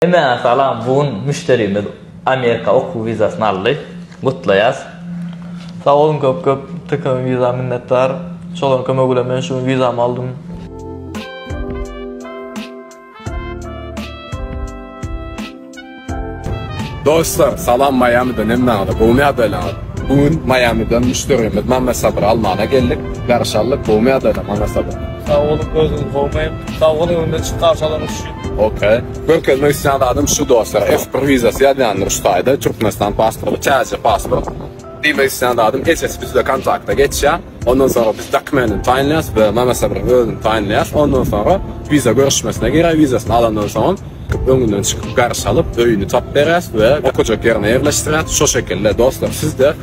Mesalam bu gün müşderimiz Amerika okuw wizasyny aldy. Gutlaýas. Sag boluň köp köp Tkm wiza minnetdar. Şolaryň kömegi bilen men şu gün wizamy aldym. Dostlar salam Miami'den hemmäňize gowy ýagdaýlaňyz. Bu gün Miami'den müşderimiz Mame Sabyry almana geldik. Garşy aldyk gowy ýagdaýlaň Mame Sabyr. Sag boluň gözüňiz gowmy. Sag boluň öňden çyk garşy alanyňyz üçin. Ok. Görkezmek isleýän zadym şu dostlar F bir wizasy ýazýandyr şu taýda Türkmenistan pasporty täze pasport diýmek isleýän zadym esesi bizde kontakta geçýär ondan soňra biz dokumenini taýynlaýas we Mama Sabyryň özüni taýynlaýas ondan soňra wiza görüşmesine girýär wizasyny alandan soňam öňünden çykyp garşy alyp öýüni tapyp berýäs we okajak ýerine ýerleşdirýäs şo şekilde dostlar sizde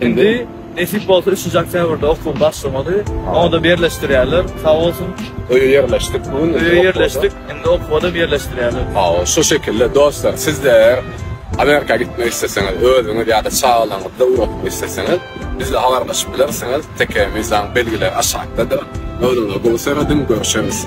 Indi nesip bolsa üçünji oktýabrda okuw başlamaly. Oňada birleşdirýärler. Sag bolsun. Öýe ýerleşdik bu gün. Öýe ýerleşdik. Indi okuwadam ýerleşdirýärler. Hawa, şu şekilde dostlar, sizler eger Amerika gitmek isleseňiz, özüňiz ýa-da çagalaryňyzy ugratmak isleseňiz, bizle habarlaşyp bilersiňiz. TKMIZAň belgileri aşakdadyr. Özüňize gowy serediň, görüşeris.